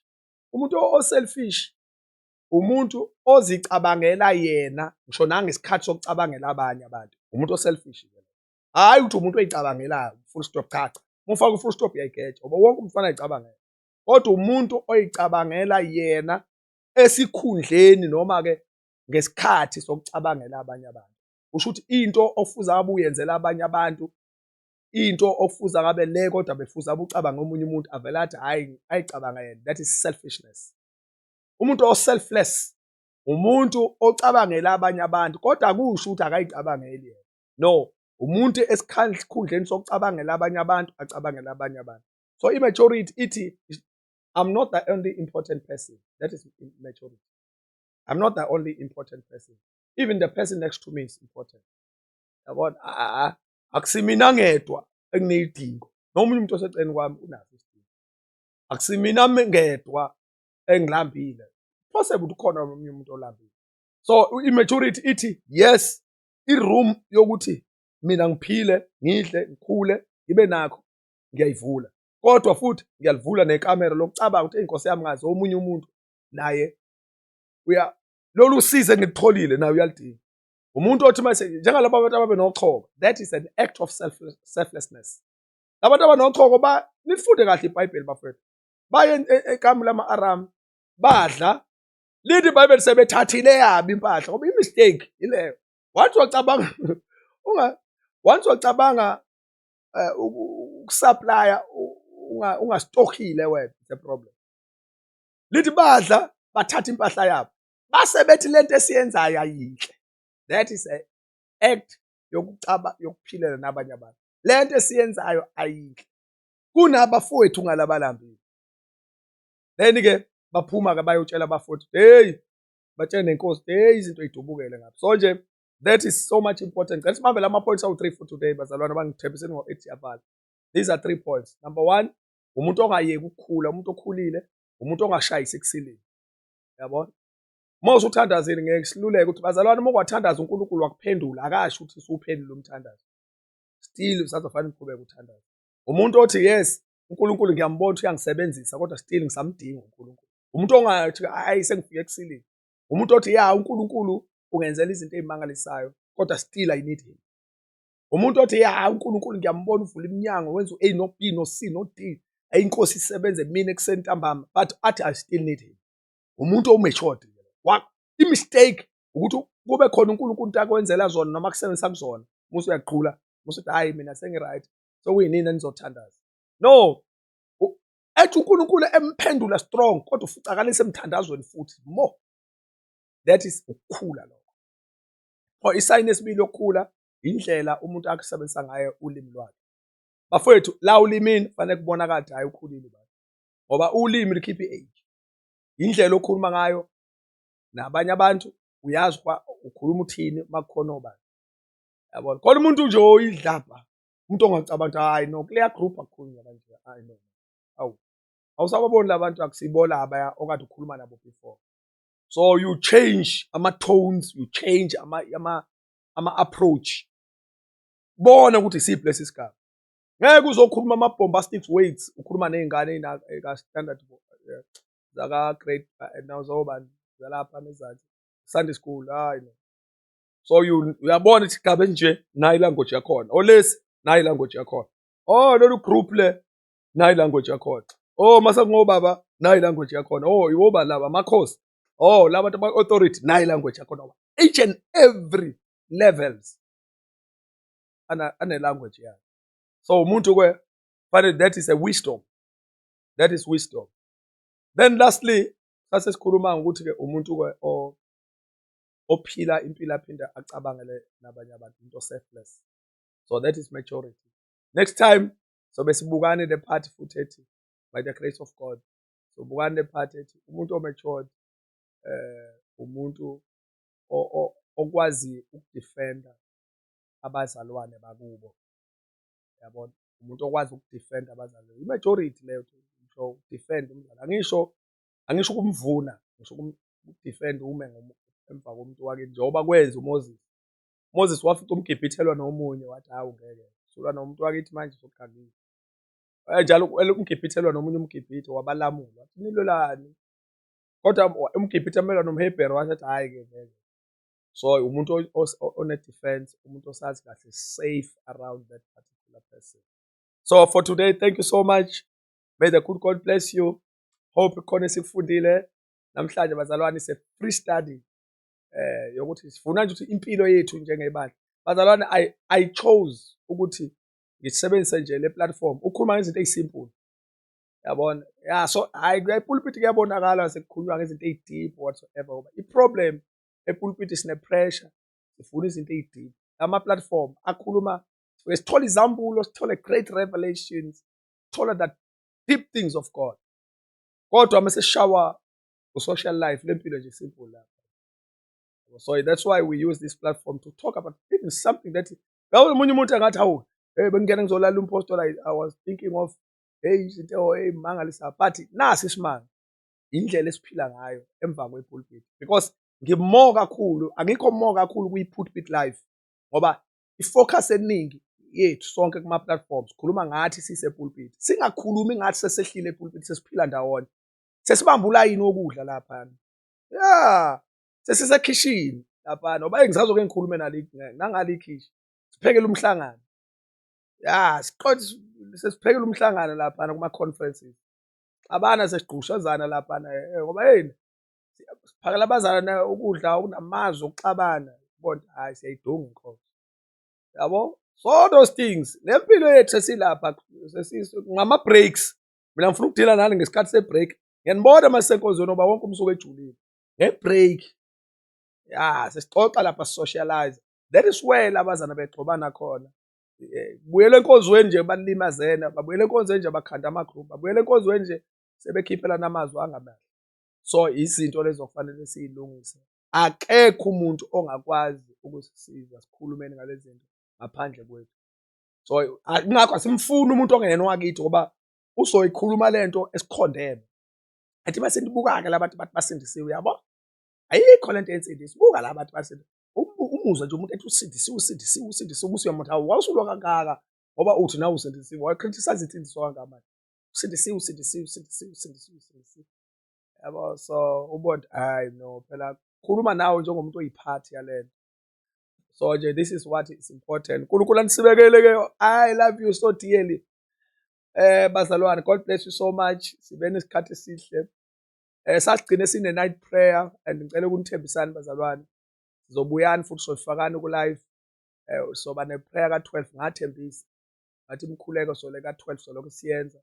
Umuntu o-selfish umuntu ozicabangela yena ngisho nangesikhathi sokucabangela abanye abantu umuntu o-selfish hhayi ukuthi umuntu oyicabangelayo full stop cha cha mufaka u-full stop uyayigeja ngoba wonke umfana ayicabangela kodwa umuntu oyicabangela yena esikhundleni noma-ke ngesikhathi sokucabangela abanye abantu kusho ukuthi into ofuza abe uyenzela abanye abantu into okufuza ngabe le kodwa befuza ubucabanga omunye umuntu avele athi hayi ayicabanga yena that is selfishness umuntu oselfless umuntu ocabangela abanye abantu kodwa akusho ukuthi akayicabangeli yena no umuntu esikhundleni sokucabangela abanye abantu acabangela abanye abantu so i-majority ithi i'm not the only important person that is majority i'm not the only important person even the person next to me is important yabona ah, ah, ah. akusimina ngedwa engineyidingo noma umunye umuntu oseceleni kwami unaso isidingo akusimina ngedwa engilambile possible ukuthi khona omunye umuntu olambile so i-maturity ithi yes i-room yokuthi mina ngiphile ngidle ngikhule ngibe nakho ngiyayivula kodwa futhi ngiyalivula nekamera lokucabanga ukuthi inkosi yami ngazi omunye umuntu naye uya lolu size engilitholile naye uyalidinga umuntu othi mase njengalabo abantu ababe nochoko that is an act of self selflessness labantu abanochoko ba nifunde kahle ibhayibheli bafethu baye e, e, ekamu lama aram badla lithi ibhayibheli sebethathile yabi impahla ngoba imistake ileyo wathi wacabanga unga once wacabanga eh, ukusupplya ungastokhile wena the problem lithi badla bathatha impahla yabo base bethi lento esiyenzayo ayinhle that is a act yokucaba yokuphilela nabanye abantu lento esiyenzayo ayinhle kunabafowethu ngalabalambile then ke baphuma ke bayotshela abafowethu hey batshele nenkosi hey izinto idubukele ngapha so nje that is so much important ngicela sibambe lama points awu 3 for today bazalwane abangithembiseni ngo 8 yabhala these are three points number 1 umuntu ongayeki ukukhula umuntu okhulile umuntu ongashayisi kusilile yabona uma usuthandazile ngeke siluleke ukuthi bazalwane uma kwathandaza uNkulunkulu wakuphendula akasho ukuthi usuphendula umthandazo still usazofanele uqhubeke uthandaza umuntu othi yes uNkulunkulu ngiyambona ukuthi uyangisebenzisa kodwa still ngisamdinga uNkulunkulu umuntu ongathi hayi sengifike kusilile umuntu othi ya uNkulunkulu ungenzela izinto ezimangalisayo kodwa still i need him umuntu othi ya uNkulunkulu ngiyambona uvula iminyango wenza u-A no B no C no D ayi inkosi isebenze mina ekuseni ntambama but athi I still need him umuntu owumeshodi i-mistake ukuthi kube khona uNkulunkulu into akwenzela zona noma kusebenzisa kuzona musa uyaqhula musa uthi hayi mina sengi-right sokuyinini enizothandaza no ethi uNkulunkulu emphendula strong kodwa ufucakalise emthandazweni futhi more that is ukukhula lokho or isayini esibili yokukhula indlela umuntu akusebenzisa ngayo ulimi lwakhe. Bafowethu la ulimini fanele kubona kade hayi ukhulile baba. Ngoba ulimi likhipha i-age. Indlela okhuluma ngayo nabanye abantu uyazi kwa ukhuluma uthini makukhona obani. Yabona? Khona umuntu nje oyidlabha umuntu ongacabanga ukuthi hayi no kuleya group akukhulunywa kanje hayi no. Awu awusababoni labantu akusibola abaya okade ukhuluma nabo before. So you change ama tones, you change ama ama ama-approach bona ukuthi isiphi lesi sigaba ngeke uzokhuluma ama-bombastic weights ukhuluma ney'ngane ey'ka-standard eh, zaka-grade eh, nazobani zalapha nezansi sunday school hayi no so uyabona ukuthi igaba enje nayo ilanguage yakhona olesi nayo ilanguage yakhona o oh, lolu group le nayo ilanguage yakhona o oh, masakungobaba nayo ilanguage yakhona o oh, iwoba laba amakhosi oh laba bantu ama-authority nayi language akhona wa each and every levels ane-language yayo so umuntu ke fanele that is a wisdom that is wisdom then lastly sase sikhuluma ngokuthi ke umuntu ke ophila impilo aphinde acabangele nabanye abantu into selfless so that is maturity next time sobe sibukane le party futhi ethi by the grace of god so bukani le part ethi umuntu omatured eh umuntu okwazi ukudefenda abazalwane bakubo yabona umuntu okwazi ukudefenda abazalwane imajority leyo ngisho ukudefend umzali angisho angisho ukumvuna ngisho ukudefend ume emva komuntu wake njengoba kwenza uMoses Moses wafica umgibhithelwa nomunye wathi hawu ngeke sulwa nomuntu wakithi manje sokukhangisa Eh, njalo kumele umgibhithe elwa nomunye umgibhithe wabalamula wathi nilwelani kodwa umgibhithe amelwa nomhebhero wathi athi hhayi-ke vele so umuntu one-defense umuntu osazi kahle safe around that particular person so for today thank you so much may the good god bless you hope khona esikufundile namhlanje bazalwane is a free study eh yokuthi sifuna nje ukuthi impilo yethu njengebandla bazalwane i i chose ukuthi ngisebenzise nje le platform ukhuluma ngezinto ezisimple yabona ya so hayi kuyipulpit kuyabonakala sekukhulunywa ngezinto ezideep whatsoever ngoba iproblem epulpit sine pressure sifuna izinto ezideep ama platform akhuluma sithola izambulo sithole great revelations thola that deep things of God kodwa uma seshawa ku-social life lempilo nje simple lapho so that's why we use this platform to talk about even something that Ngabe omunye umuntu angathi hawu hey bengingena ngizolala umpostola I was thinking of hey izinto oh, hey mangalisa but nasi isimanga indlela esiphila ngayo emva kwepulpit because ngimo kakhulu angikho mo kakhulu kwi-pulpit life ngoba i-focus eningi yethu sonke kuma-platforms khuluma ngathi sisepulpit singakhulumi ngathi sesehlile epulpit sesiphila ndawonye sesibamba ulayini wokudla laphana ya sesisekhishini lapha noba engisazoke ngikhulume nali nangale ikhishi siphekele umhlangano ya siqothi sesiphekele umhlangano lapha kuma conferences abana sesigqushazana lapha eh, ngoba yini siphakela abazalwane ukudla okunamazwi okuxabana bonke hayi siyayidunga inkosi yabo so those things nempilo yethu sesilapha ngama breaks mina ngifuna ukudila nani ngesikhathi se break ngiyanibona masenkonzweni oba wonke umsuku ejulile nge-break ya sesixoxa lapha sisocialize that is where labazana begxobana khona buyela enkonzweni nje balimazene babuyela enkonzweni nje bakhanda amagroup babuyela enkonzweni nje sebekhiphelana amazwi angamahle so izinto lezo kufanele siyilungise akekho umuntu ongakwazi ukusisiza sikhulumeni ngalezi zinto ngaphandle kwethu so kungakho asimfuni umuntu ongeyena owakithi ngoba uzoyikhuluma lento esikhondeme athi base ndibukake labantu bathi basindisiwe yabo ayikho lento ensindisi buka la bantu basindisiwe umuzwa nje umuntu ethi usindisiwe usindisiwe usindisiwe umusi uyamuntu hawu wawusulwa kangaka ngoba uthi nawe usindisiwe wayecriticize insindiswa kangamani usindisiwe usindisiwe usindisiwe usindisiwe usindisiwe yabo so ubond hayi no phela khuluma nawe njengomuntu oyiphathi yalento so nje this is what is important nkulunkulu anisibekele ke i love you so dearly eh bazalwane god bless you so much sibe nesikhathi esihle eh sasigcine sine night prayer and ngicela ukunithembisani bazalwane sizobuyani futhi sofakani ku live eh soba ne prayer ka 12 ngathembisa ngathi imkhuleko sole ka 12 soloko siyenza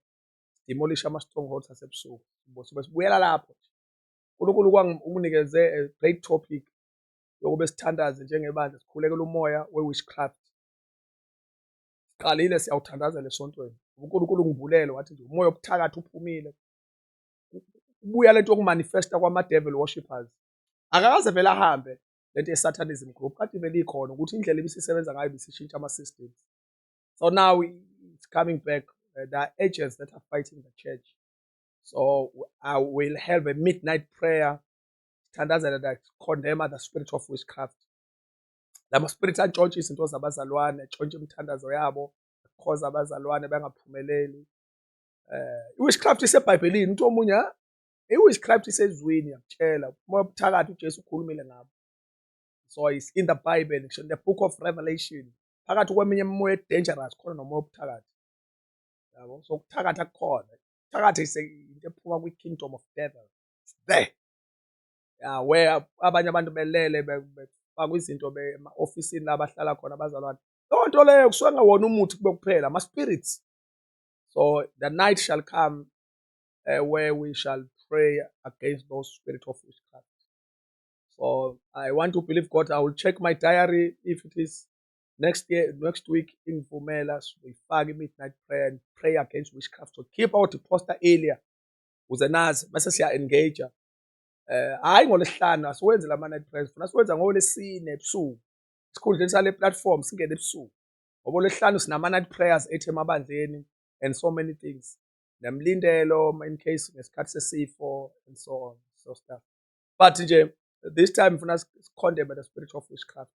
demolish ama strongholds asebusuku sibe sibuyela lapho uNkulunkulu kwanginikeze a great topic yokube sithandaze njengebandla sikhulekela umoya we witchcraft siqalile siyawuthandazela esontweni uNkulunkulu ungivulele wathi nje umoya obuthakathi uphumile kubuya lento yokumanifesta kwama-devil worshippers akakaze vele ahambe lento ye-satanism group kade vele ikhona ukuthi indlela ebisisebenza ngayo bisishintsha ama-systems so now it's coming back uh, there are agents that are fighting the church so i will have a midnight prayer sithandazela that condemn the spirit of witchcraft lama spirit atshontshe izinto zabazalwane atshontshe imithandazo yabo akhoza abazalwane bangaphumeleli eh witchcraft isebhayibhelini umuntu omunye i witchcraft isezwini yakutshela uma ubuthakathi uJesu ukhulumile ngabo so it's in the bible ngisho the book of revelation phakathi kweminye imimoya dangerous khona nomoya obuthakathi yabo so kuthakatha kukhona kuthakatha into ephuma kwi kingdom of devil there ya we abanye abantu belele befakwa izinto ema-ofisini la bahlala khona abazalwane leyo nto leyo kusuke ngawona umuthi kube kuphela ama-spirits so the night shall come uh, where we shall pray against those spirit of witchcraft so i want to believe god i will check my diary if it is next year next week ingivumela siyifake i-midnight prayer and pray against witchcraft so keep our deposter earlier ukuze nazi bese siya-engage hhayi ngolwesihlanu asiwenzi la ma-night price funa siwenza ngolesine ebusuku esikhundleni sale platform singene ebusuku ngoba olwesihlanu sinama-night prayers ethi emabandleni and so many things nemlindelo in case ngesikhathi sesifo and so on so stuff but nje this time funa sikhondeme the spirit of witchcraft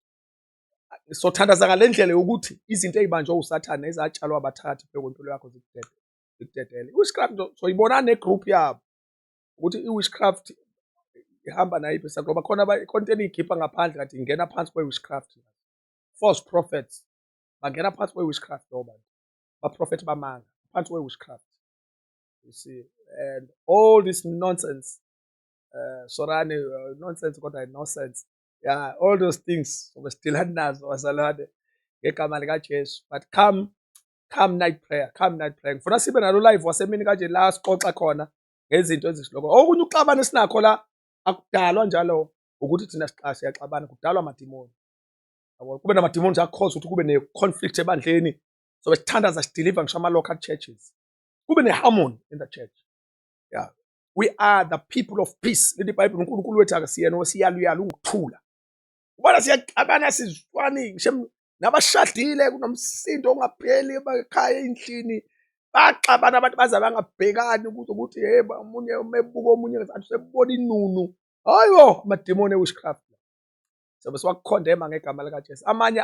sothandaza ngale ndlela yokuthi izinto ey'banjwe usathane ezatshalwa abathakathi phekwempilo yakho zikudedele zikudedele i-witchcraft soyibona negroup yabo ukuthi i-witchcraft ihamba nayiphi sa ngoba khona khona eniyikhipha ngaphandle kathi ingena phansi kwe-witchcraft false prophets bangena phansi kwe-witchcraft lowo bantu baprofethi bamanga phansi kwe-witchcraft you see and all this nonsense uh, sorane uh, nonsense kodwa nonsense yeah all those things obesithilani nazo wazalwane ngegama likajesu but come come night prayer come night prayer ngifuna sibe nalo live wasemini kanje la sixoxa khona ngezinto ezihloko okunye ukuxabana esinakho la akudalwa njalo ukuthi thina siqashe yaxabana kudalwa amadimoni kube namadimoni akhoza ukuthi kube ne-conflict ebandleni sobe sithandaza sideliver ngisho ama-local churches kube ne-harmony in the church yeah we are the people of peace lithi ibhayibhile unkulunkulu wethu akasiyena osiyaluyala unguthula ubona siyaxabana sizwani shem nabashadile kunomsindo ongapheli emakhaya endlini baxabana abantu baze bangabhekani ukuthi ukuthi hey omunye umebuka omunye ngathi usebona inunu hayibo amadimoni ewitchcraft sobe siwakukhondema ngegama likaJesu amanye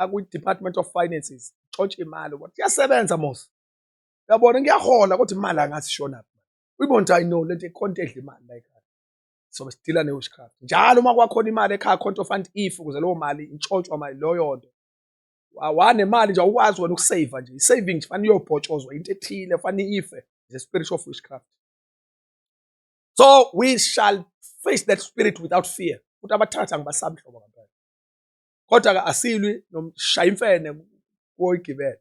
akwi-department of finances tshontsha imali ukuthi kuyasebenza mos uyabona ngiyahola kodwa imali angasishonaphi uyibona ukuthi ayino lento ikhonta edla imali la ekhaya sobe sidila ne-witchcraft njalo uma kwakhona imali ekhaya khonto fund if ukuze leyo mali intshotshwa mali loyo nto wanemali nje awukwazi wena ukusave nje i-saving nje fanele iyobhotshozwa into ethile fanele ife the spirit of witchcraft so we shall face that spirit without fear ukuthi abathatha ngibasabi hlobo ngampela kodwa-ke asilwi nomshaya imfene koyigibela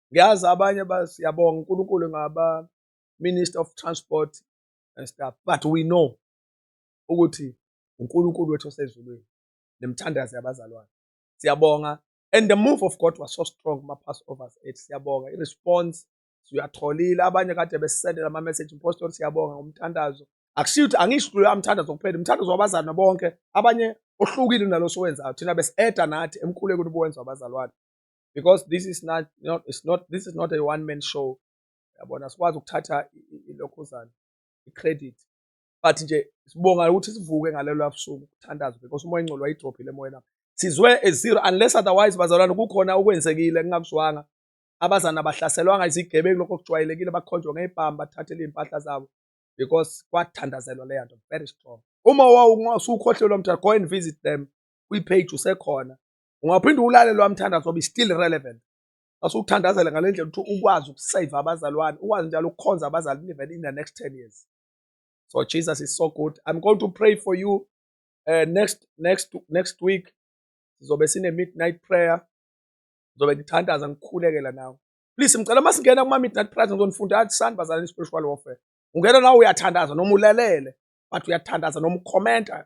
ngiyazi abanye siyabonga uNkulunkulu ngaba Minister of Transport and stuff but we know ukuthi uNkulunkulu wethu osezulwini nemthandazo yabazalwane siyabonga and the move of God was so strong kuma passovers ethu siyabonga i response siyatholile abanye kade besisendela ama message impostor siyabonga ngomthandazo akushiyo ukuthi angisho ukuthi uyamthandazo kuphela umthandazo wabazalwane bonke abanye ohlukile naloso wenzayo thina besieda nathi emkhulekweni ubuwenza wabazalwane because this is not, not, it's not this is not a one man show yabona sikwazi ukuthatha ilokhuzana i-credit but nje sibonga ukuthi sivuke ngalelo labusuku kuthandazwe because umoya ingcolo wayidrophile emoyeni sizwe ezero unless otherwise bazalwane kukhona okwenzekile kungakuzwanga abazana bahlaselwanga izigebengu lokho kujwayelekile bakhonjwa ngey'bhamu bathathele iy'mpahla zabo because kwathandazelwa leya nto very strong uma wawusukhohlelwa mtha go and visit them kwi-page usekhona ungaphinde uwulale lowa mthandazo obe still relevant asukuthandazele ngale ndlela ukuthi ukwazi ukusave abazalwane ukwazi njalo ukukhonza abazali even in the next 10 years so jesus is so good i'm going to pray for you uh, next next next week sizobe sine midnight prayer ngizobe ngithandaza ngikhulekela nawe please ngicela uma singena kuma midnight prayer ngizonifunda atisani bazalwane spiritual warfare ungena nawe uyathandaza noma ulalele but uyathandaza noma ukhomenta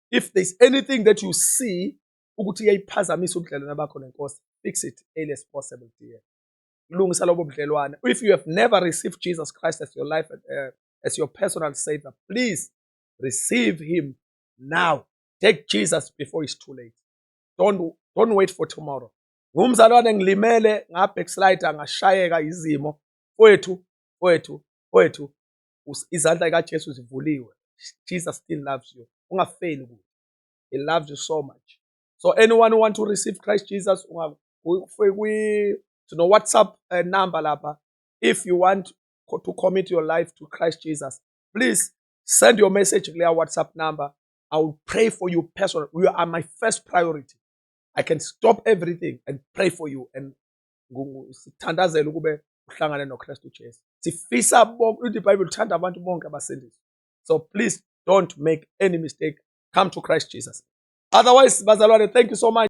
if there's anything that you see ukuthi iyayiphazamisa ubudlelwane bakho nenkosi fix it early as possible dear lungisa lobo budlelwane if you have never received jesus christ as your life uh, as your personal savior please receive him now take jesus before it's too late don't, don't wait for tomorrow ngumzalwane ngilimele ngabackslide ngashayeka izimo kwethu kwethu kwethu izandla zikaJesu zivuliwe Jesus still loves you ungafeli kuye he loves you so much so anyone who want to receive Christ Jesus kwi sino WhatsApp uh, number lapha if you want to commit your life to Christ Jesus please send your message kuleya WhatsApp number I will pray for you personally you are my first priority I can stop everything and pray for you and sithandazela ukube uhlangane noKristu Jesu sifisa bonke ithi iBhayibheli uthanda abantu bonke abasindiswa so please don't make any mistake come to Christ Jesus otherwise bazalwane thank you so much